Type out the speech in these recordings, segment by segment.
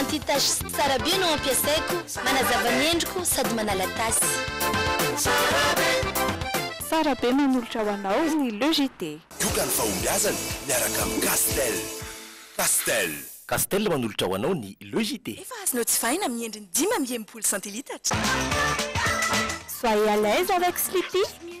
Anti tache sy tsara be no ampiasaiko, manazava ny endriko sady manala tasy. Tsara be. Tsara be manolotra ho anao ny Le JT. Yoga ny fahombiazana miaraka amin'ny Castel. Castel. Castel manolotra ho anao ny Le JT. Efa azonao jifaina amin'ny endriny dimy amby enimpolo centilitatra. Soyez à l'aise avec Sleepy!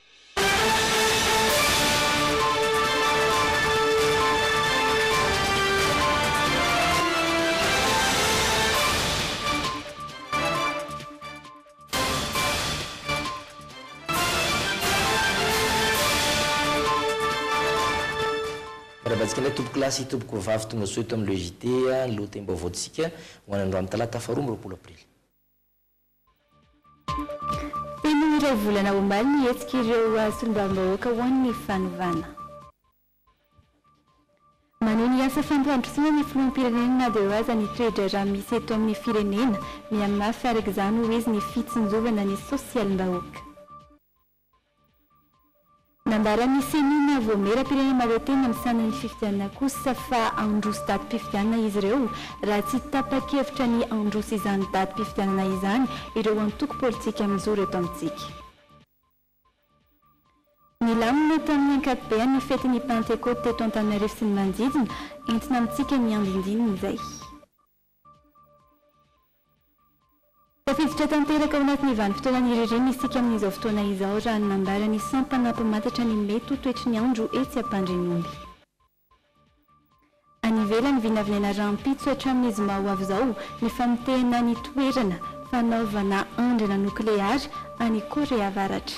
Miarabantsika indray tompoko lahy sy tompoko vavy tongasoa eto amin'ny le JT, ny lohatenim-baovaontsika ho an'androany talata faharoa amby roapolo aprily. Teny iray volana omaly ny hetsik'ireo solombavambahoaka ho an'ny fanovana. Maneho ny asa fampandrosoana ny filoham-pirenena na dia aza ny toe-draharaha misy eto amin'ny firenena mihamafy araka izany hoy izy ny fitsinjovana ny sosialim-bahoaka. Nambaran'ny Ceni na Voamieram-pirenena Maroetena misahana ny fifidianana kosa fa handroso datim-pifidianana izy ireo raha tsy tapa-kevitra ny handroso izany datim-pifidianana izany ireo antoko politika mijoro eto amintsika. Nilamina tamin'ny ankapobeny ny fetin'ny Pantekoty teto Antananarivo sy ny manodidina, entina amintsika ny andindininy izay. Tafiditra tanteraka ao anatin'ny vanim-potoana ny ririnina isika amin'izao fotoana izao raha ny nambara ny sampana mpamantatra ny mety ho toetry ny andro etsy Ampandrinomby. Any ivelany vinavinaina rahampitso hatramin'ny zoma ho avy izao ny famotehana ny toerana fanaovana andrana nokleary any Korea Avaratra.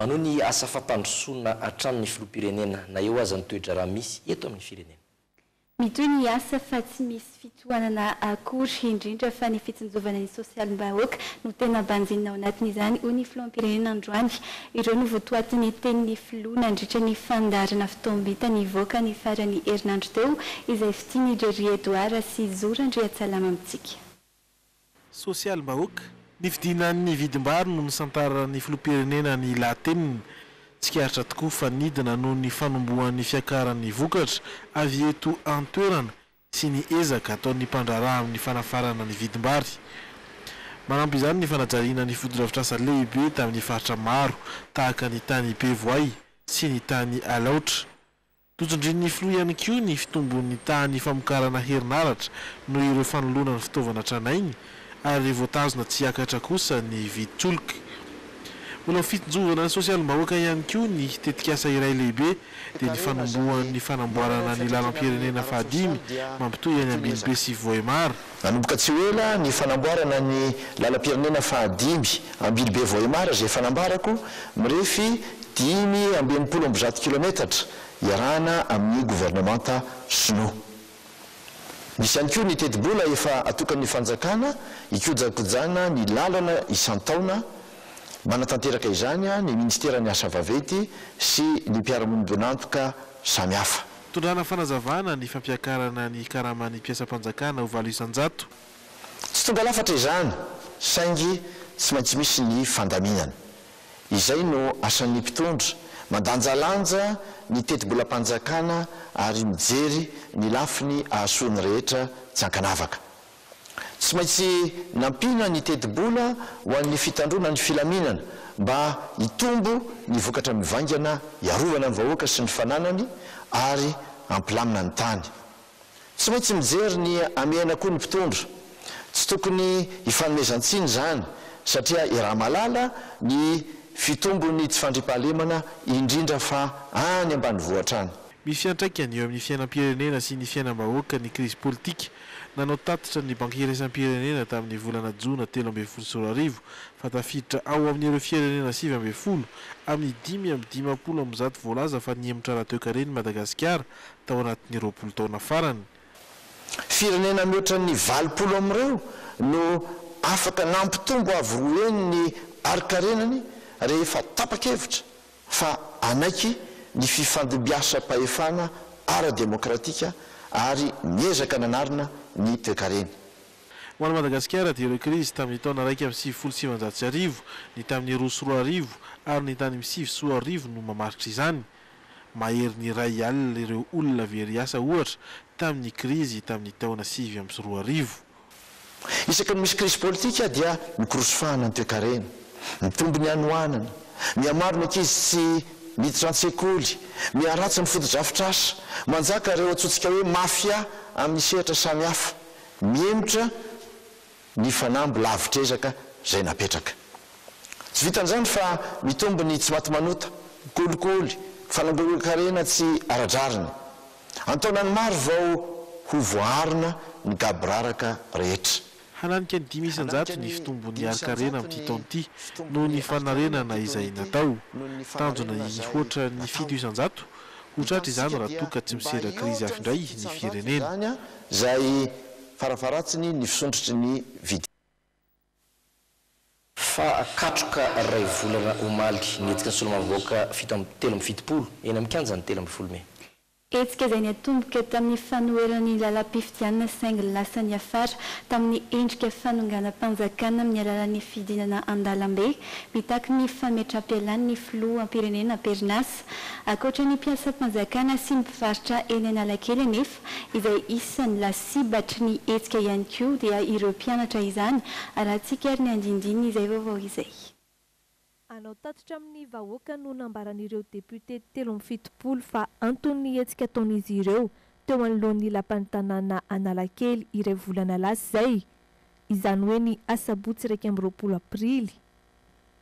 Manohy ny asa fampandrosoana hatrany ny Filoham-pirenena na eo aza ny toe-draharaha misy eto amin'ny firenena. Mitohy ny asa fa tsy misy fitohanana akory, indrindra fa ny fitsinjovana ny sosialim-bahoaka no tena banjinina ao anatin'izany, hoy ny Filoham-pirenena androany. Ireo no votoatin'ny tenin'ny Filoha nandritra ny fandaharana fotoam-bita nivoaka ny faran'ny herinandro teo izay fitian'i Jerry Edouard sy Zo Randriatsalama amintsika. Sosialim-bahoaka. Ny fidinan'ny vidim-bary no nisantaran'ny filoham-pirenena ny lahateniny. Tsikaritra tokoa fa nidina noho ny fanombohan'ny fiakaran'ny vokatra avy eto an-toerana sy ny ezaka ataon'ny mpandraharaha amin'ny fanafarana ny vidim-bary. Manampy izany ny fanajariana ny fotodrafitrasa lehibe tamin'ny faritra maro tahaka ny tany Bevoay sy ny tany Alaotra. Notondroin'ny filoha ihany koa ny fitombon'ny tahan'ny famokarana herinaratra noho ireo fanoloana ny fitaovana tranainy ary voatazona tsy hiakatra kosa ny VTULC. Mbola ho fitsinjovana ny sosialim-bahoaka ihany koa ny tetikasa iray lehibe dia ny fanombohan'ny fanamboarana ny lalam-pirenena fahadimy mampitohy any Ambinibe sy Vohemar. Nanomboka tsy ho ela ny fanamboarana ny lalam-pirenena fahadimy Ambilobe Vohemar izay efa nambarako, mirefy dimy amby enimpolo amby zato kilometatra, iarahana amin'ny governemanta Shinoa. Misy ihany koa ny tetibola efa atokan'ny fanjakana hikojakojana ny lalana isan-taona, manatanteraka izany ny Ministeran'ny Asa Vaventy sy ny mpiara-monibon'antoka samihafa. Tondrana fanazavana ny fampiakarana ny karaman'ny mpiasam-panjakana ho valo isan-jato. Tsy tonga lafatra izany saingy tsy maintsy misy ny fandaminana. Izay no asan'ny mpitondra, mandanjalanja ny tetibolam-panjakana ary mijery ny lafiny ahasoa ny rehetra tsy ankanavaka. Tsy maintsy nampiana ny tetibola ho an'ny fitandroana ny filaminana mba hitombo ny vokatra mivaingana hiarovana ny vahoaka sy ny fananany ary hampilamina ny tany. Tsy maintsy mijery ny hamehana koa ny mpitondra. Tsy tokony hifanomezan-tsiny izany satria iaraha-mahalala ny fitombon'ny tsy fandriampahalemana indrindra fa any ambanivohitra any. Misy fiantraikany eo amin'ny fiainam-pirenena sy ny fiainam-bahoaka ny krizy politika Nanao tatitra ny Banky Iraisam-pirenena tamin'ny volana jona telo ambin'ny folo sy roa arivo fa tafiditra ao amin'ireo firenena sivy ambin'ny folo amin'ny dimy amby dimampolo amby zato voalaza fa nihemotra ara-toekarena i Madagasikara tao anatin'ny roapolo taona farany. Firenena mihoatra ny valopolo amin'ireo no afaka nampitombo avo roa heny ny harin-karenany rehefa tapa-kevitra fa hanaiky ny fifandimbiasam-pahefana ara-demokratika ary miezaka nanarina ny toekareny. Ho an'i Madagasikara dia ireo krizy tamin'ny taona iraika amby sivifolo sy sivinjato sy arivo, ny tamin'ny roa sy roa arivo ary ny tany amin'ny sivy sy roa arivo no mamaritra izany. Maherin'ny iray alina ireo olona very asa ohatra tamin'ny krizy tamin'ny taona sivy amby sy roa arivo. Isaky ny misy krizy politika dia mikorosofahana ny toekarena, mitombo ny hanoanana, mihamaro ny ankizy tsy miditra an-tsekoly, miharatsy ny fotodrafitrasa, manjaka ireo antsointsika hoe mafia amin'ny sehatra samihafa, mihemotra ny fanamby lavitr'ezaka izay napetraka. Tsy vitan'izany fa mitombo ny tsimatimanota, kolikoly, fanangonan-karena tsy ara-drariny. An-taonany maro vao ho voaarina ny gaboraraka rehetra. Hananika ny dimy isan-jato ny fitombon'ny harin-karena amin'ity taona ity noho ny fanarenana izay natao. Tanjona ny hihoatra ny fito isan-jato ho tratra izany raha toa ka tsy misedra krizy hafa indray ny firenena. izay farafaharatsiny ny fisondrotry ny vidin'entana. Fa katroka iray volana omaly, ny hetsika solombavambahoaka fito amby telo amby fitopolo, eny amin'ny kianjan'ny telo ambin'ny folo mey. Hetsika izay niatomboka tamin'ny fanoherana ny lalam-pifidianana saingy lasa niafara tamin'ny endrika fanonganam-panjakana amin'ny alalan'ny fidinana an-dalambe mitaky ny fametram-pialan'ny filoham-pirenena am-perinasa. Ankoatra ny mpiasam-panjakana sy ny mpivarotra eny Analakely anefa, izay isan'ny lasibatry ny hetsika ihany koa dia ireo mpianatra izany arahantsika ary ny andindin'izay vaovao izay. Anao tatitra amin'ny vahoaka no nambaran'ireo députés telo amby fitopolo fa anton'ny hetsika ataon'izy ireo teo anoloan'ny lapan'ny tanàna Analakely iray volana lasa izay, izany hoe ny asabotsy iraika amby roapolo aprily.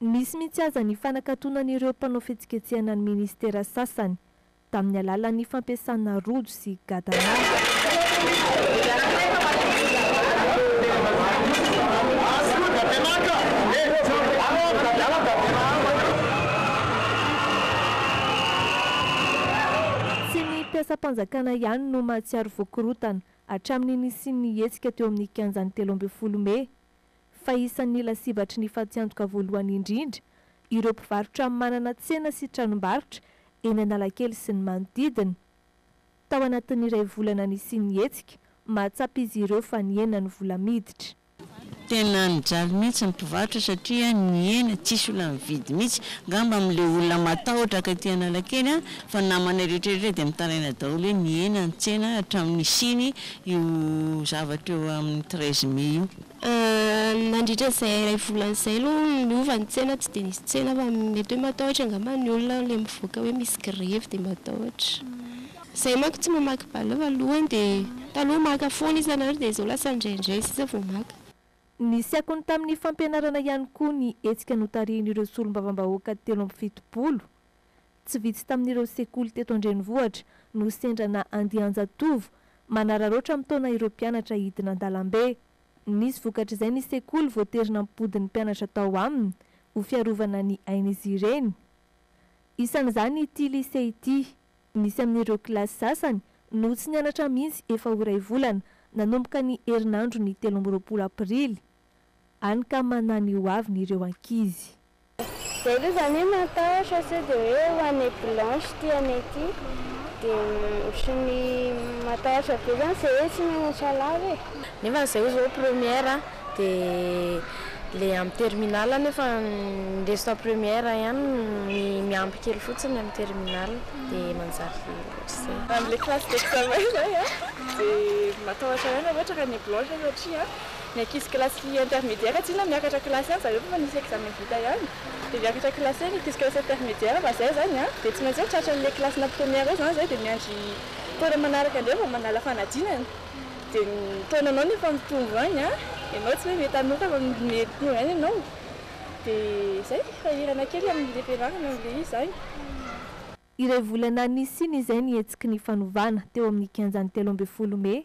Nisy mihitsy aza ny fanakatonan'ireo mpanao fihetsiketsehana ny minisitera sasany, tamin'ny alalan'ny fampiasana rojo sy gadana. Tsy ny mpiasam-panjakana ihany no mahatsiaro voa korontana, hatramin'ny nisian'ny hetsika teo amin'ny kianjan'ny telo ambin'ny folo mey, fa isan'ny lasibatry ny fatiantoka voalohany indrindra ireo mpivarotra manana tsena sy tranombarotra eny Analakely sy ny manodidina. Tao anatin'ny iray volana nisian'ny hetsika, mahatsapa izy ireo fa nihena ny vola miditra. Tena nijaly mihitsy ny mpivarotra satria nihena, tsisy olona nividy mihitsy. Angamba amin'ilay olona matahotra ka aty Analakely fa namanay rehetra rehetra dia mitaraina daholo hoe nihena ny tsena hatramin'ny nisiany io zavatra eo amin'ny treize mai io. Nandritra izay iray volana izay aloha niova ny tsena tsy dia nisy tsena fa mety hoe matahotra angamba ny olona ilay mivoaka hoe misy grevy dia matahotra. Izahay manko tsy mamaky balloon voalohany dia taloha maka foana isan'andro dia izao lasa indraindray sisa vao maka. Nisy akony tamin'ny fampianarana ihany koa ny hetsika notarihin'ireo solombavambahoaka telo amby fitopolo Tsy vitsy tamin'ireo sekoly teto an-drenivohitra no sendra na andian-jatovo manararaotra mitaona ireo mpianatra hidina an-dalambe. Nisy vokatr'izay ny sekoly voatery nampody ny mpianatra tao aminy ho fiarovana ny ain'izy ireny. Isan'izany ity Lycée ity. Nisy amin'ireo kilasy sasany no tsy nianatra mihitsy efa ho iray volana nanomboka ny herinandron'ny telo amby roapolo aprily. Hany ka manana ny ho aviny ireo ankizy. Zay aloha zany hoe matahotra sao de hoe ho an'ny blanche ty anay ty de otriny matahotra be zany zay hoe tsy mianatra lava e. Nefany zay zao première de le amin'ny terminale nefa ny restant première ihany ny miampy kely fotsiny amin'ny terminale de manjary ohatr'izay. Amin'ny le classe d'examen zay an de matahotra ihany anao ohatra ka ny blanche satria an. Ny ankizy kilasy intermédiaire tsy inona miakatra kilasy ihany zareo fa misy examen vita ihany dia miakatra kilasy ny ankizy kilasy intermédiaire fa zay zany an dia tsy maintsy hoe tratra anle kilasy na première eo zany zay dia miandry taona manaraka indray vao manala fanadinana dia ny taonanao no efa mitombo any an ianao tsy hoe mety hanota fa mety tonga any ianao dia zay sahirana kely amle fianarana amle izy zany. Iray volana nisian'izay ny hetsiky ny fanovana teo amin'ny kianjan'ny telo ambin'ny folo mey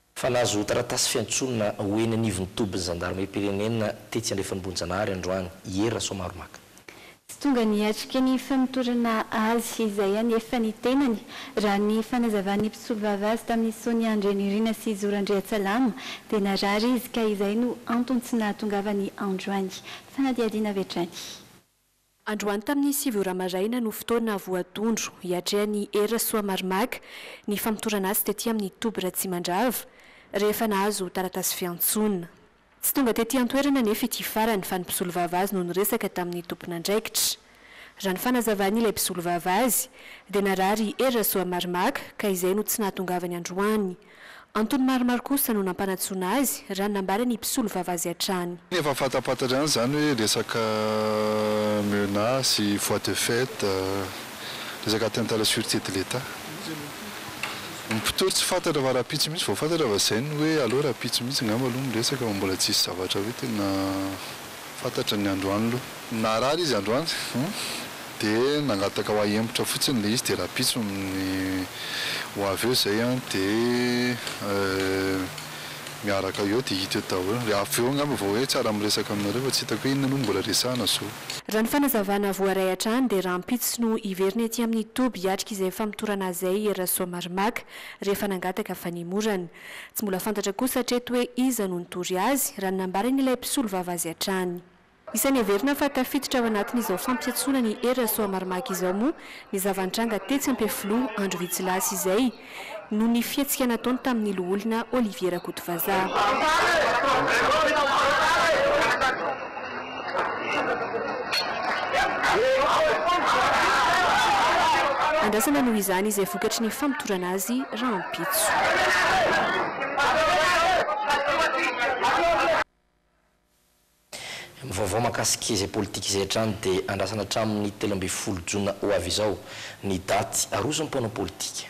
Fa nahazo taratasy fiantsoana ho eny anivon'ny tobin'ny zandarimariam-pirenena tetsy Andrefan'Bohijanahary androany i Hery Rasoamaromaka. Tsy tonga niatrika ny famotorana azy izay anefa ny tenany, raha ny fanazavan'ny mpisolovava azy tamin'ny Sonia Andrianirina sy Zoro Andriatsalama dia narary izy ka izay no antony tsy nahatongavany androany. Fanadihadiana avy hatrany. Androany tamin'ny sivy ora maraina no fotoana voatondro hiatrehan'i Hery Rasoamaromaka ny famotorana azy tety amin'ny toby Ratsimandrava, rehefa nahazo taratasy fiantsoana. Tsy tonga tety an-toerana anefa ity farany fa ny mpisolovava azy no niresaka tamin'ny tompon'andraikitra. Raha ny fanazavan'ilay mpisolovava azy, dia narary i Hery Rasoamaromaka ka izay no tsy nahatongavany androany. Antony maromaro kosa no nampanatsoana azy, raha ny nambaran'ny mpisolo vava azy hatrany. Efa fatafantatra ihany izany hoe resaka menace, voie de fait, resaka atteinte à la surete de l'Etat. Ny mpitory tsy fantatra fa rahampitso mihitsy vao fantatra fa izay no hoe aleo rahampitso mihitsy angamba aloha miresaka fa mbola tsisy zavatra hoe tena. Fantatra ny androany lo. Narary izy androany hum dia nangataka ho ahy hembotra fotsiny le izy dia rapitso ny ho avy eo zay an dia euh miaraka eo dia hita eo daholo dia avy eo angamba vao hoe tsara miresaka aminareo fa tsy hitako hoe inona no mbola resahana zo. Raha ny fanazavana voaray hatrany dia rampitso no hiverina ety amin'ny toby hiatrika izay famotorana azy zay i Rasoamaromaka rehefa nangataka fanemorana. Tsy mbola fantatra kosa hatreto hoe iza no nitory azy, raha ny nambaran'ilay mpisolovava azy hatrany. Isan'ny heverina fa tafiditra ao anatin'izao fampiantsoana ny Hery Rasoamaromaka izao moa ny zava-nitranga tetsy Ampefiloha andro vitsy lasa izay, noho ny fihetsika nataony tamin'ny loholona Olivier Rakotovazaha. Andrasana noho izany izay vokatry ny famotorana azy rahampitso. Ny vaovao mahakasika izay politika izay hatrany dia andrasana hatramin'ny telo ambin'ny folo jona ho avy izao ny daty aroso ny mpanao politika.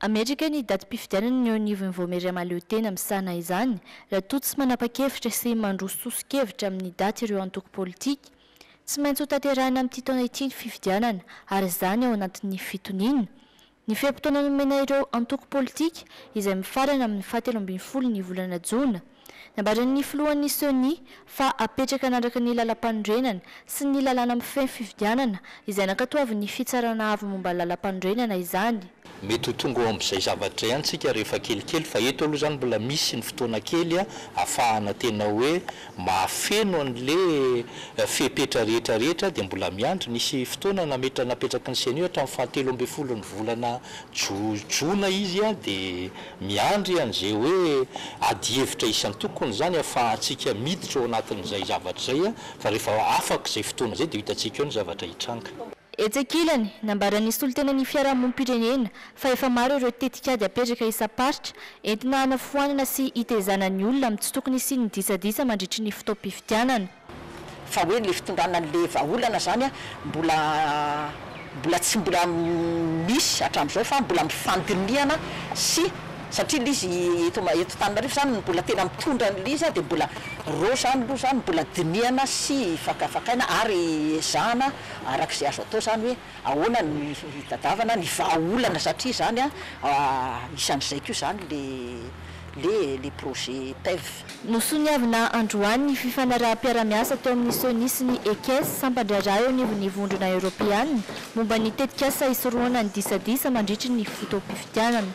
Amerika ny datim-pifidianana ny eo anivon'ny Vaomiera Mahaleo Tena misahana izany, raha toa tsy manapa-kevitra sy mandroso soso-kevitra amin'ny daty ireo antoko politika. Tsy maintsy hotanterahina amin'ity taona ity ny fifidianana, ary izany ao anatin'ny fitoniana ny fe-potoana nomena ireo antoko politika, izay mifarana amin'ny fahatelo ambin'ny folo ny volana jona. Nambaran'ny filohan'ny Ceni fa hapetraka hanaraka ny lalampanorenana sy ny lalàna mifehy fifidianana izay nankatoavin'ny Fitsarana Avo momba Lalampanorenana izany. Mety ho tonga eo amin'izay zavatra ihany isika rehefa kelikely fa eto aloha izany mbola misy ny fotoana kely ahafahana tena hoe mahafeno an'ilay fepetra rehetra rehetra dia mbola miandry. Nisy fotoana nametra napetraky ny Ceni hatramin'ny fahatelo ambin'ny folon'ny volana jona izy dia Miandry an'izay hoe adihevitra isan-tokony izany ahafahantsika miditra ao anatin'izay zavatra izay, fa rehefa afaka izay fotoana izay dia ho hitantsika eo ny zavatra hitranga. Etsy ankilany, nambaran'ny solontenan'ny fiarahamonim-pirenena fa efa maro ireo tetikady apetraka isam-paritra entina hanafoanana sy hitezana ny olona amin'ny tsy tokony hisian'ny disadisa mandritry ny fotoam-pifidianana. Fa hoe le fitondrana anle vahaolana zany mbola mbola tsy mbola misy hatramzao fa mbola mifandinihana sy satria le izy eto eto Antananarivo zany ny mbola tena mitondra anle izy de mbola reo zany lo zany mbola dinihana sy fakafakaina ary ezahana arak'ze azo atao zany hoe ahoana no hitadiavana ny vahaolana satria zany isan'izay ko zany le le le projet PEV. Nosoniavina androany ny fifanaraham-piarahamiasa teo amin'ny Ceni sy ny Ekes, sampan-draharaha eo anivon'ny Vondrona Eoropeana, momba ny tetikasa hisorohana ny disadisa mandritry ny fotoam-pifidianana.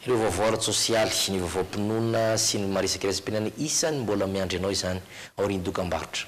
Ireo vaovao ara-tsosialy, ny vaovaom-pinoana sy ny maha resakeresam-piainana isan'ny mbola miandry anao izany aorian'ny dokambarotra.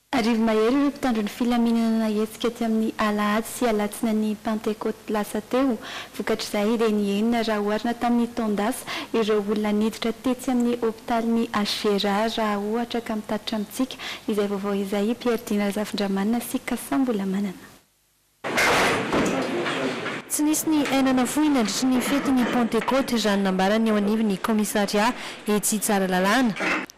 Arivo mahery ireo mpitandro ny filaminana nahetsika teo amin'ny alahady sy alatsinain'ny Pantekoty lasa teo. Vokatr'izay dia nihenina raha oharina tamin'ny taon-dasa ireo olona niditra tetsy amin'ny hopitalin'ny HGRA raha ohatra ka mitatitra amintsika izay vaovao izay i Pierre Dina Razafindramanana sy Cassa Mbolamanana. Tsy nisy ny aina nafoy nandritry ny fetin'ny Pantekoty, raha ny nambaran'ny eo anivon'ny kaomisarià etsy Tsaralalàna.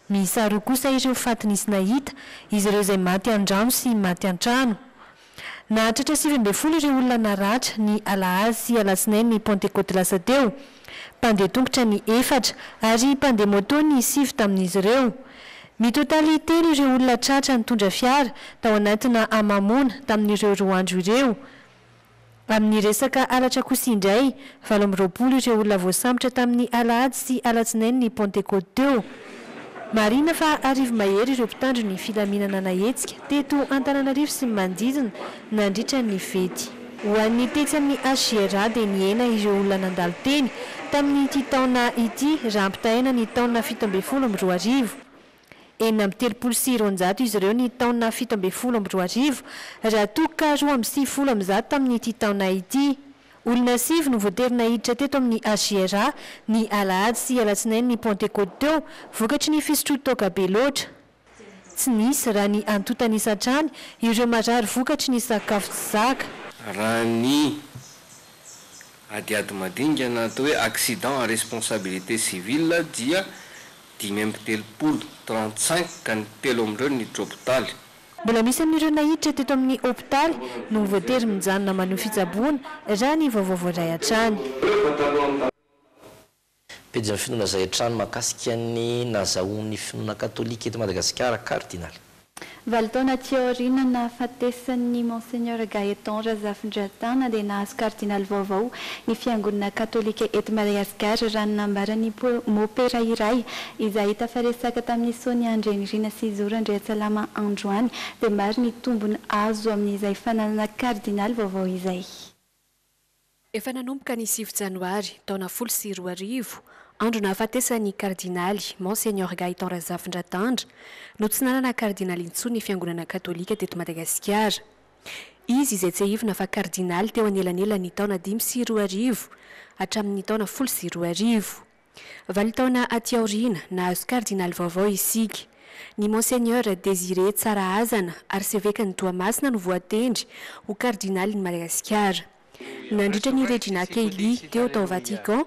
Miisa roa kosa ireo faty nisy nahita, izy ireo izay maty an-drano sy maty an-trano. Nahatratra sivy ambin'ny folo ireo olona naratra, ny alahady sy alatsinain'ny Pantekoty lasa teo. mpandeha tongotra ny efatra ary mpandeha moto ny sivy tamin'izy ireo. Mitotaly telo ireo olona tratra nitondra fiara tao anatina hamamoana tamin'ireo roa andro ireo. Amin'ny resaka halatra kosa indray, valo amby roapolo ireo olona voasambotra tamin'ny alahady sy alatsinain'ny Pantekoty teo. Marihina fa arivo mahery ireo mpitandro ny filaminana nahetsika teto Antananarivo sy ny manodidina nandritra ny fety. Ho an'ny tetsy amin'ny HJRA dia nihena ireo olona nandalo teny tamin'ity taona ity raha ampitahaina ny taona fito ambin'ny folo amby roa arivo. Enina amby telopolo sy roanjato izy ireo ny taona fito ambin'ny folo amby roa arivo raha toa ka roa amby sivifolo amin'izato tamin'ity taona ity. Olona sivy no voatery naiditra teto amin'ny HJRA, ny alahady sy alatsinain'ny Pantekôty teo, vokatry ny fisotroan-toaka be loatra. Tsy nisy, raha ny antontanisa hatrany, ireo marary vokatry ny sakafo tsy zaka. Raha ny adiady madinika na atao hoe accident à responsabilité civile dia dimy amby telopolo, trente-cinq, ka ny telo amin'ireo niditra hopitaly, Mbola misy amin'ireo naiditra teto amin'ny hopitaly no voatery mijanona maneho fitsaboana, raha ny vaovao voaray hatrany. Pejin'ny finoana izay hatrany mahakasika ny nazahoan'ny finoana katolika eto Madagasikara, Kardinaly. Valo taona aty aoriana nahafatesan'ny Monseigneur Gaëtan Razafindratana dia nahazo Kardinaly vaovao ny Fiangonana Katolika eto Madagasikara, raha ny nambaran'ny Mo-pera iray Izay tafaresaka tamin'i Sonia Andrianirina sy Zoro Andriatsalama androany dia maro ny tombony azo amin'izay fananana kardinaly vaovao izay. Efa nanomboka ny sivy janoary, taona folo sy roa arivo, andro nahafatesan'ny kardinaly Monseigneur Gaëtan Razafindratandra, no tsy nanana kardinaly intsony ny fiangonana katolika teto Madagasikara. Izy izay tsiahivina fa kardinaly teo anelanelan'ny taona dimy sy roa arivo hatramin'ny taona folo sy roa arivo. Valo taona aty aoriana, nahazo kardinaly vaovao isika. Ny Monseigneur Désiré Tsarahazana, arsevekan'i Toamasina no voatendry ho kardinalin'i Madagasikara. Nandritra ny Regina Caeli teo tao Vatican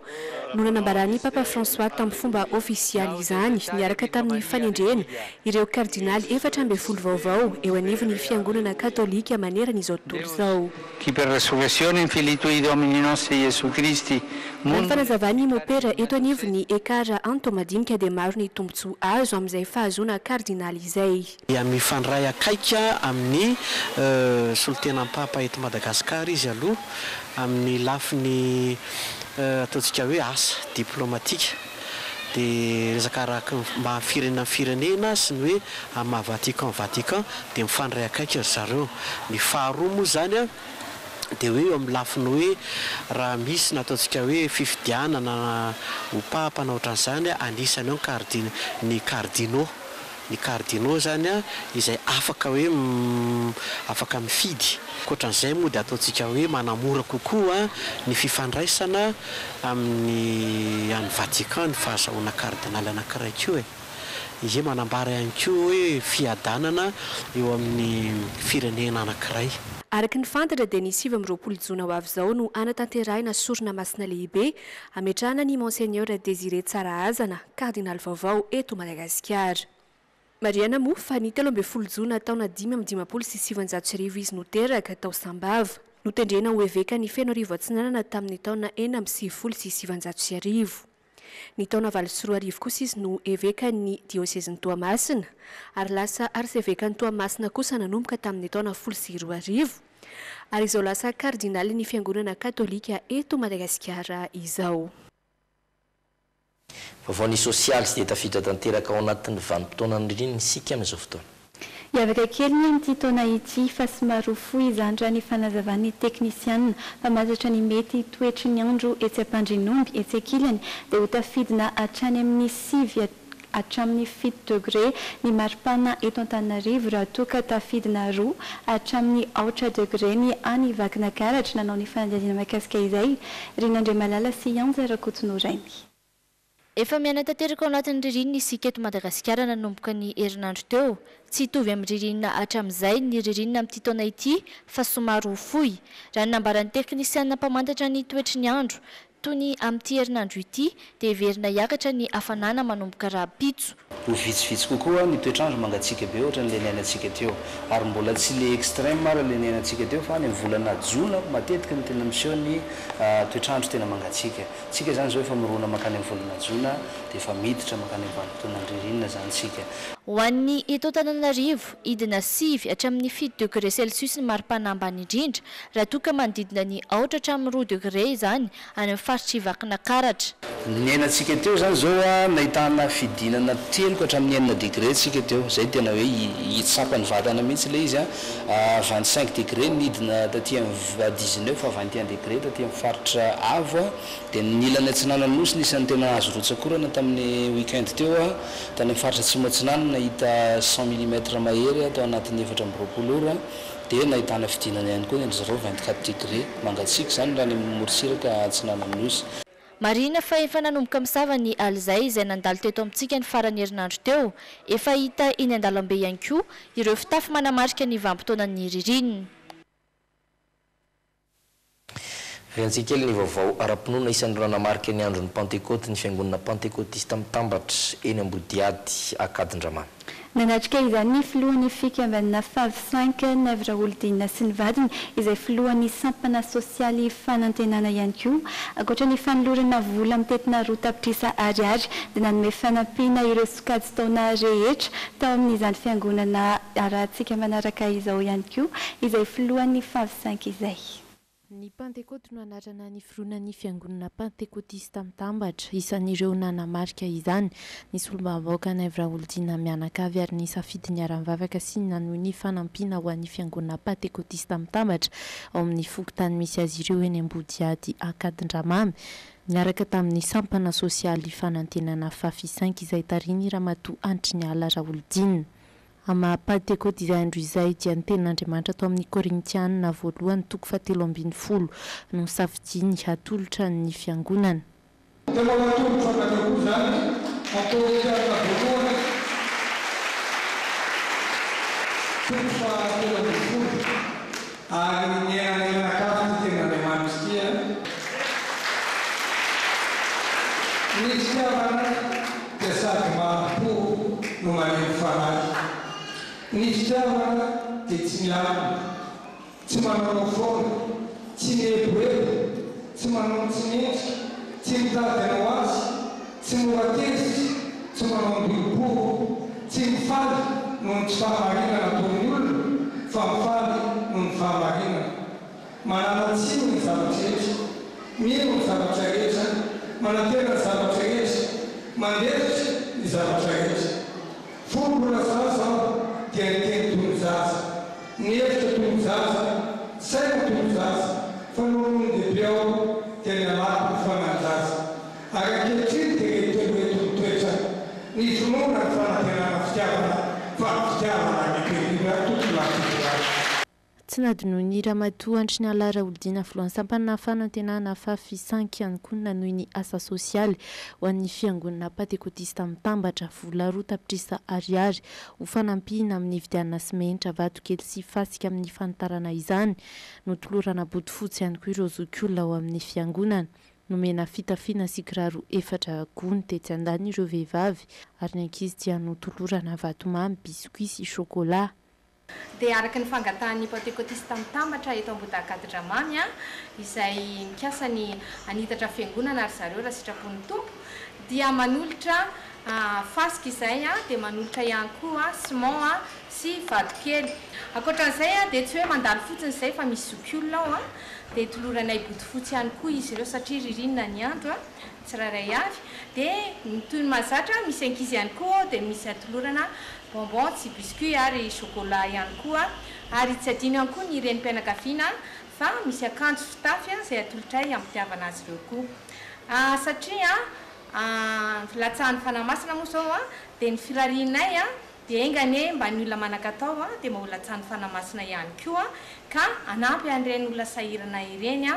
no nanambaran'i Papa François tamin'ny fomba ofisialy izany niaraka tamin'ny fanendrena ireo kardinaly efatra ambin'ny folo vaovao eo anivon'ny Fiangonana Katolika manerana izao tontolo izao. Chi per resurrezione infinito di Domini nostri Gesù Christi. Raha ny fanazavan'i Mopera eto anivon'ny Ecar Anto madinika dia maro ny tombontsoa azo amin'izay fahazoana kardinaly izay. Dia mifandray akaiky amin'ny solontenam-papa eto Madagasikara izy aloha amin'ny lafiny ataontsika hoe asa diplomatika. dia resaka araky ny mba firenena amin'ny firenena sy ny hoe amin'ny maha Vatican Vatican dia mifandray akaiky ry zareo. Ny faharoa moa izany dia hoe eo amin'ny lafiny hoe raha misy ny ataontsika hoe fifidianana ho Papa na ohatran'izany anisany ao ny cardin ny cardinaux. ny cardinaux izany izay afaka hoe afaka mifidy. Ankoatran'izay moa dia ataontsika hoe manamora kokoa ny fifandraisana amin'ny any Vatican ny fahazahoana cardinal anankiray koa e! Izay manambara ihany koa hoe fiadanana eo amin'ny firenena anankiray. Araka ny fantatra dia ny sivy amby roapolo jona ho avy izao no hanatanterahina sorona masina lehibe hametrahana an'i Monseigneur Désiré Tsarahazana, Kardinaly vaovao eto Madagasikara. Marihana moa fa ny telo ambin'ny folo jona taona dimy amby dimampolo sy sivinjato sy arivo izy no teraka tao Sambava. Notendrena ho eveka ny Fenoarivo Atsinanana tamin'ny taona enina amby sivifolo sy sivinjato sy arivo. Ny taona valo sy roa arivo kosa izy no evekan'ny diosezin'i Toamasina ary lasa arsevekan'i Toamasina kosa nanomboka tamin'ny taona folo sy roa arivo ary izao lasa kardinalin'ny Fiangonana katolika eto Madagasikara izao. Vaovao ny sosialy tsy dia tafiditra tanteraka ao anatin'ny vanim-potoanan'ny ririnina isika amin'izao fotoana. Hiavaka kely ny amin'ity taona ity fa somary ho fohy izany raha ny fanazavan'ny teknisianina fa mazatra ny mety toetry ny andro etsy Ampandrinomby etsy ankilany dia ho tafidina hatrany amin'ny sivy hatramin'ny fito degre ny maripana eto Antananarivo raha toa ka tafidina roa hatramin'ny aotra degre ny any Vakinakaratra nanao ny fanadihadiana mahakasika izay Ren'Andriamalala sy Ianja Rakotonorainy. Efa miaina tanteraka ao anatin'ny ririnina isika eto Madagasikara nanomboka ny herinandro teo. Tsy hitovy amin'ny ririnina hatramin'izay ny ririnina amin'ity taona ity fa somary ho fohy. Raha ny nambaran'ny teknisianina mpamantatra ny toetry ny andro, toy ny amin'ity herinandro ity dia heverina hiakatra ny hafanana manomboka rahampitso. Ho vitsivitsy kokoa ny toetr'andro mangatsiaka be ohatra an'ilay niainantsika teo. Ary mbola tsy ilay extreme ara ilay niainantsika teo fa any amin'ny volana jona matetika no tena miseho ny toetr'andro tena mangatsiaka. Isika izany izao efa mirona mankany amin'ny volana jona dia efa miditra mankany amin'ny vanim-potoanan'ny ririnina izany isika. Ho an'ny eto Antananarivo, hidina sivy hatramin'ny fito degre celsius ny maripana ambany indrindra raha toa ka manodidina ny aotra hatramin'ny roa degre izany any amin'ny faritr'i Vakinakaratra. Niaina tsika teo izany izao a, nahitana fidinana telo ka hatramin'ny enina degré tsika teo, izay tena hoe hitsapa ny vatana mihitsy ilay izy a, vingt cinq degré nidina taty amin'ny dix neuf à vingt et un degré taty amin'ny faritra avo a, dia ny ilany atsinanan'ny nosy no isan'ny tena azo rotsak'orana tamin'ny week-end teo a, tany amin'ny faritra atsimo atsinanana nahita cent millimètres mahery a tao anatin'ny efatra amby roapolo ora. Dia nahitana fidinana ihany koa ny zéro vingt quatre degré mangatsiaka izany raha any amin'ny morontsiraka atsinanan'ny Nosy. Marihina fa efa nanomboka misava ny alizay izay nandalo teto amintsika ny faran'ny herinandro teo. Efa hita eny an-dalambe ihany koa ireo fitafy manamarika ny vanim-potoanan'ny ririnina. Rehatsika kely ny vaovao ara-pinoana isan'ireo nanamarika ny andron'ny Pantekôty ny Fiangonana Pantekôtista Mitambatra eny Ambodihady Ankadindramamy. Nanatrika izany ny filohan'ny fikambanana Fav Cinq, Navy Raholidinina sy ny vadiny, izay filohan'ny sampana sosialy Fanantenana ihany koa. Ankoatra ny fanolorana vola mitentina roa tapitrisa Ariary dia nanome fanampiana ireo sokajy taona rehetra, tao amin'izany fiangonana arahantsika manaraka izao ihany koa izay filohan'ny favsink izay. Ny Pantekoty no anarana niforonan'ny Fiangonana Pantekotista Mitambatra. Isan'ireo nanamarika izany ny Solombavambahoakan'i Ev Raholdina mianakavy ary nisafidy niara-nivavaka sy nanohy ny fanampiana ho an'ny Fiangonana Pantekotista Mitambatra ao amin'ny fokontany misy azy ireo eny Ambodihady Ankadindramamy, niaraka tamin'ny sampana sosialy Fanantenana Fafisainky izay tarihin'i Ramatoa Antriniala Raholidina. Amin'ny maha Pantekoty izay andro izay dia ny Tenin'Andriamanitra tao amin'ny Korintiana voalohany toko fahatelo ambin'ny folo no nosafidiany hatolotra ny Fiangonana. Tena ho atolotro anareo koa izany ny Korintiana voalohany toko fahatelo ambin'ny folo. Ary ny tena mianakavy ny tenin'Andriamanitra dia ny fitiavana dia sady mari-po no malemy fanahy. Ny fitiavana dia tsy mialona, tsy manaonao foana, tsy mieboebo, tsy manonontsonentsika, tsy mitady ny ho azy, Tsy mora tezitra, tsy manao miboribory, tsy mifaly noho ny tsy fahamarinana ataon'ny olona, fa mifaly noho ny fahamarinana. Manala tsiny ny zavatra rehetra, mino ny zavatra rehetra, manantena ny zavatra rehetra, mandefitra ny zavatra rehetra. Fony mbola zaza aho dia niteny toy ny zaza, nihevitra toy ny zaza, nisaina toy ny zaza, fa nony ndehibe aho dia nialako ny fanahin-jaza. Ary ankehitriny dia mety ho eto mitoetra ny finoana ny fanantenana fitiavana fa ny fitiavana any am-pehivavy tokony mampidi azy. Tsy nadinoin'ny Ramatoa Andry Niala Raholdina, Filohan'ny Sampanà Fanantenana fa fisan-kiankonana noho ny asa sosialy ho an'ny Fiangonana Pantekotista Mitambatra, vola roa tapitrisa Ariary ho fanampiana amin'ny nividianana simenitra, vatokely sy fasika amin'ny fanitarana izany. Notolorana bodofotsy ihany koa ireo zokiolona ao amin'ny Fiangonana. Nomena fitafiana sy kiraro efatra gony tetsy an-daniny ireo vehivavy ary ny ankizy dia notolorana vatomamy, biscuits sy chocolat. Dia araka ny fangatahan'ny Pantekotista Mitambatra eto Ambohidahy-Gadodramamy an, izay mikasa ny hanitatra fiangonana ry zareo raha sitrapon'ny Tompo, dia manolotra fasika izay an, dia manolotra ihany koa ciment an, sy vatokely. Ankoatran'izay an, dia tsy hoe mandalo fotsiny izay fa misy zokiolona ao an, dia toloranay bodofotsy ihany koa izy ireo satria ririnina ny andro a, tsirairay avy, dia toy ny mahazatra misy ankizy ihany koa ao dia misy atolorana bonbon sy biscuit ary chocolat ihany koa ary tsy adino ihany koa ny renim-pianakaviana fa misy akanjo fitafy izay atolotray ampitiavana azy ireo koa satria a latsahany fanahy masina moa izao a dia ny firarianay a Dia enga anie mba ny olona manan-katao dia mba ho latsahan'ny Fanahy Masina ihany koa ka hanampy an'ireny olona sahirana ireny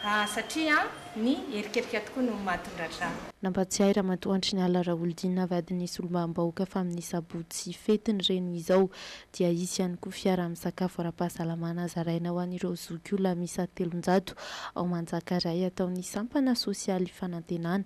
satria ny erikerika tokoa no mahatondratra. Nampatsiahy Ramatoa Antriniala Raholidina vadin'ny Solombavambahoaka fa amin'ny sabotsy fetiny ireny izao dia hisy ihany koa fiara misakafo ara-pahasalamana zaraina ho an'ireo zokiolona miisa telonjato ao Manjakaray ataon'ny sampana sosialy Fanantenana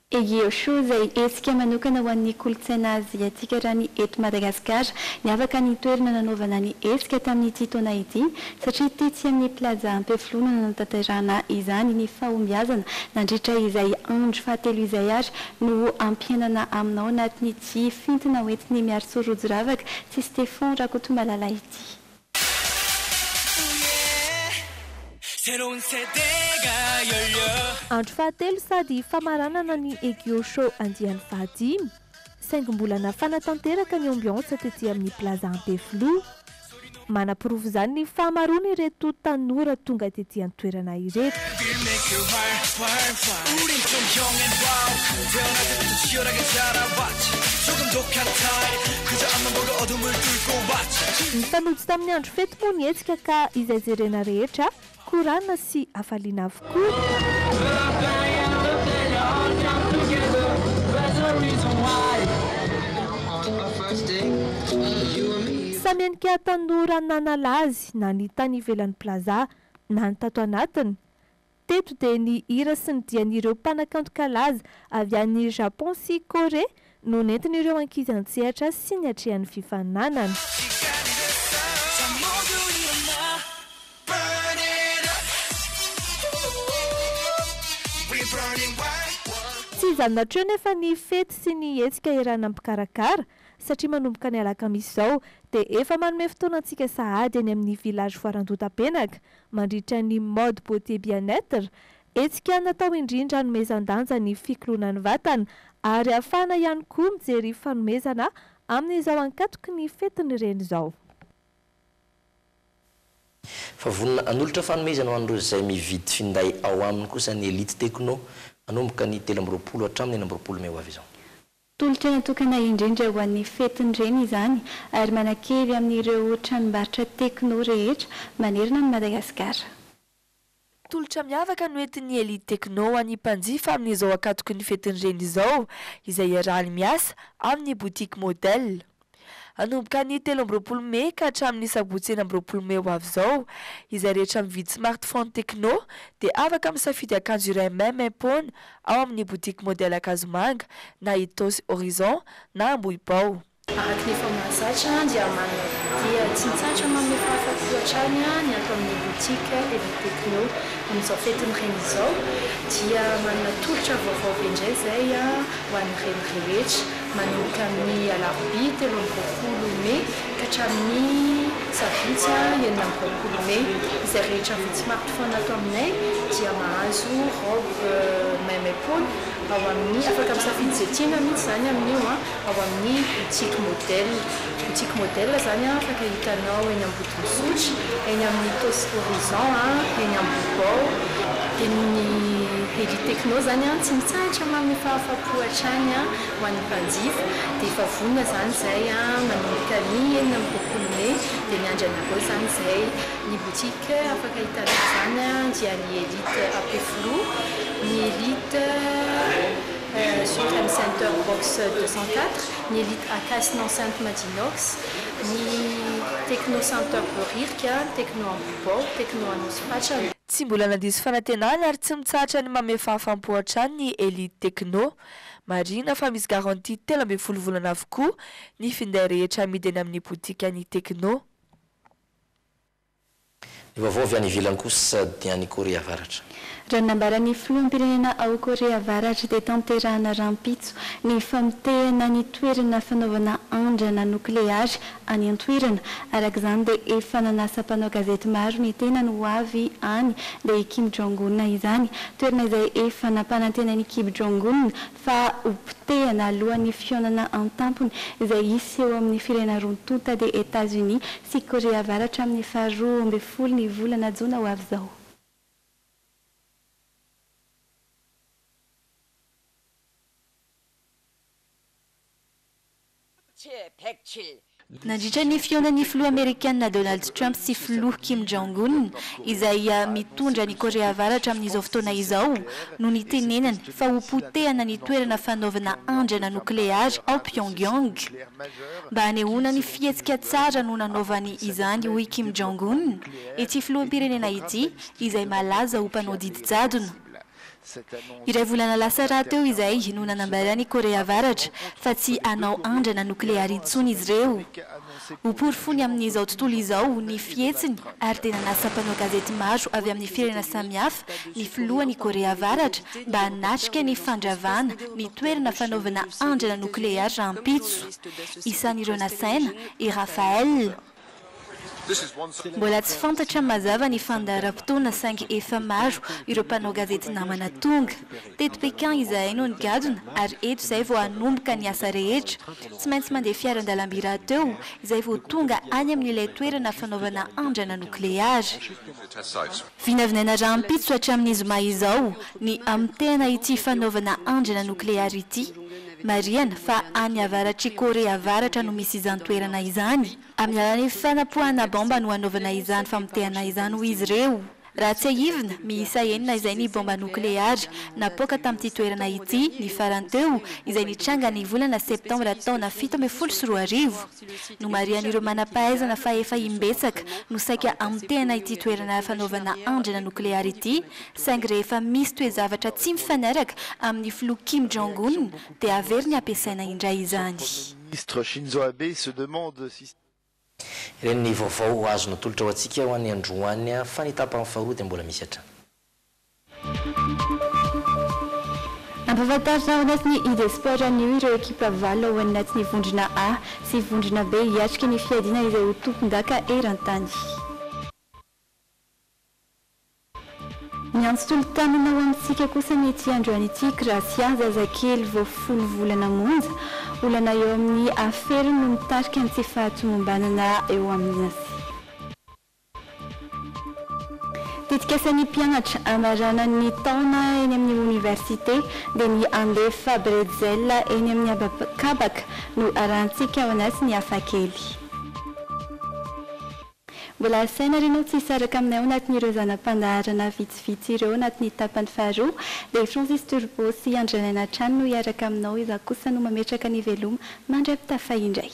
Egeo Show izay hetsika manokana ho an'ny kolontsaina aziatika raha ny eto Madagasikara. Niavaka ny toerana nanaovana ny hetsika tamin'ity taona ity satria tetsy amin'ny Plaza Ampefiloha no nanatanterahana izany ny fahombiazana nandritra izay andro fahatelo izay ary no ho ampiainana aminao anatin'ity fintina hoentin'i Miarisoa Rojoravaka sy Stephon Rakotomalala ity. Andro fahatelo sady famaranana ny Egyo Show andiany fahadimy, saingy mbola nafana tanteraka ny ambiance tety amin'ny Plaza Ampefiloha. Manaporofo izany ny fahamaroan'ireto tanora tonga tety an-toerana Madagasikara ireto. Nifanojo tamin'ny andro fety moa ny hetsika ka izay jerena rehetra korana sy hafaliana avokoa. Samy henika tanora nanala azy na ny tany ivelan'ny plaza na ny tato anatiny. Teto dia ny hira sy ny dian'ireo mpanakanto kalaza avy any Japon sy Korea no nentin'ireo ankizy an-tsehatra sy niatrehan'ny fifaninanana. Tsy iza natreo nefa ny fety sy ny hetsika eran'ny mpikarakara, satria manomboka ny alakamisy izao dia efa manome fotoana antsika sahady eny amin'ny Village Foarandohatapenaka mandritra ny Mode Beauté Bien-Etre, hetsika natao indrindra hanomezan-danja ny fikoloana ny vatana ary hahafahana ihany koa mijery fanomezana amin'izao ankatoky ny fetin'ny Reny izao. Fa vonona hanolotra fanomezana ho an'ireo izay mividy finday ao aminy kosa ny Elite Techno, hanomboka ny telo amby roapolo hatramin'ny enina amby roapolo mey ho avy izao. Tolotra natokana indrindra ho an'ny fetin'ny reny izany ary manan-kery amin'ireo tranombarotra Tecno rehetra manerana an'i Madagasikara. Tolotra miavaka no entin'ny Elite Tecno ho an'ny mpanjifa amin'izao ankatoky ny fetin'ny reny izao izay iarahany miasa amin'ny boutique Model. Hanomboka ny telo amby roapolo mey ka hatramin'ny sabotsy enina amby roapolo mey ho avy izao, izay rehetra mividy smartphone Tecno dia afaka misafidy akanjo iray maimaim-poana ao amin'ny botiky Modèle Ankazomanga na Ethos Horizon na Ambohibao. Araka ny efa mahazatra dia manana vidia tsy mitsahatra manome fahafaty hoatrany ny ato amin'ny botiky eny Tecno. Amin'izao fetin'ny reny izao dia manana tolotra vaovao be indray izay ho an'ny reny rehetra. manomboka amin'ny alarobia telo amby roapolo mey ka hatramin'ny sabotsy enina amby roapolo mey. Izay rehetra vao tsy mampifona ato aminay dia mahazo robe même épaule ao amin'ny, afaka misafidy izay tiana mihitsy izany amin'io, ao amin'ny boutique modèle. Boutique modèle izany afaka hitanao eny Ambodin'Isotry, eny amin'ny Tosy Horizon, eny Ambohibao. Dia ny Elite Techno izany tsy mitsahatra manome fahafapo hatrany ho an'ny mpanjifa. Dia efa vonona izany izay manomboka ny enina amby roapolo mey. Dia miandry anareo izany izay. Ny boutique afaka hitanao izany dia ny Elite AP Flow, ny Elite Supreme Center Box deux cent quatre. ny Elite Akaisy Nao Sainte Madinox, ny Techno Centre Behoririka, ny Techno Ambohibao, Techno Anosipatrana. Tsy mbola nandiso fanantenana ary tsy mitsahatra ny manome fahafaham-po hatrany ny Elite Techno. Marihina fa misy garantie telo ambin'ny folo volana avokoa ny finday rehetra amidy eny amin'ny botikan'ny Techno. Ny vaovao avy any ivelany kosa dia any Korea Avaratra. Raha ny nambaran'ny filoham-pirenena ao Korea Avaratra dia tanterahana rahampitso ny famotehana ny toerana fanaovana andrana nokleary any an-toerana. Araka izany dia efa nanasa mpanao gazety maro ny tenany ho avy any dia i Kim Jong-un izany. Toerana izay efa nampanantenain'i Kim Jong-un fa ho potehina alohan'ny fihaonana an-tampony izay hisy eo amin'ny firena roa tonta dia Etazonia sy Korea Avaratra amin'ny faharoa ambin'ny folo ny volana jona ho avy izao. Nandritra ny fihaonan'ny Filoha Amerikana Donald Trump sy Filoha Kim Jong Un, izay mitondra an'i Korea Avaratra amin'izao fotoana izao, no nitenenany fa ho potehana ny toerana fanaovana andrana nokleary ao Pyongyang. Mba hanehoana ny fihetsika tsara no nanaovany izany, hoy Kim Jong Un, ity filoham-pirenena ity, izay malaza ho mpanao didy jadona. Iray volana lasa rahateo izay no nanambaran'i Korea Avaratra fa tsy hanao andrana nokleary intsony izy ireo. Ho porofony amin'izao tontolo izao ny fihetsiny ary dia nanasa mpanao gazety maro avy amin'ny firenena samihafa ny filohan'i Korea Avaratra mba hanatrika ny fandravana ny toerana fanaovana andrana nokleary rahampitso. Isan'ireo nasaina i Rafael. Mbola tsy fantatra mazava ny fandaharam-potoana saingy efa maro ireo mpanao gazety namana tonga. Teto Pékin izahay no nigadona ary eto izay vao hanomboka ny asa rehetra. Tsy maintsy mandeha fiaran-dalamby rahateo izay vao tonga any amin'ilay toerana fanaovana andrana nokleary. Vinavinaina rahampitso hatramin'ny zoma izao ny hamontehana ity fanaovana andrana nokleary ity. Marihana fa any avaratr'i Korea Avaratra no misy izany toerana izany. Amin'ny alalan'ny fanapoahana baomba no hanaovana izany famotehana izany hoy izy ireo. Raha tsiahivina, miisa enina izay ny baomba nokleary napoaka tamin'ity toerana ity ny farany teo izay nitranga ny volana septambra taona fito ambin'ny folo sy roa arivo. Nomarihan'ireo manam-pahaizana fa efa imbetsaka no saika hamotehana ity toerana fanaovana andrana nokleary ity, saingy rehefa misy toe-javatra tsy mifanaraka amin'ny filoha Kim Jong Un dia averiny hampiasaina indray izany. Ireny ny vaovao azo natolotra ho antsika ho an'ny androany, fa ny tapany faharoa dia mbola misy hatrany. Nampahafantarina ao anatin'ny Ide Sport anio ireo ekipa valo ao anatin'ny vondrona A sy vondrona B hiatrika ny fiadiana izay ho tompondaka eran-tany. Niantso tolo-tanana ho amintsika kosa ny ity androany ity, Gracia, zazakely vao folo volana monja. Olana eo amin'ny aferiny no mitarika ny tsy fahatomombanana eo amin'ny Nasy. Tetikasan'ny mpianatra hamarana ny taona eny amin'ny oniversite dia ny handefa bretzel eny amin'ny habakabaka no arahantsika ao anatin'ny Hafakely. Mbola asaina ary ianao tsy hisaraka aminay ao anatin'ireo zana-pandaharana vitsivitsy ireo anatin'ny tapany faharoa dia Francis Turbo sy Andrianaina hatrany no hiaraka aminao izaho kosa no mametraka ny veloma mandry ampitafa indray.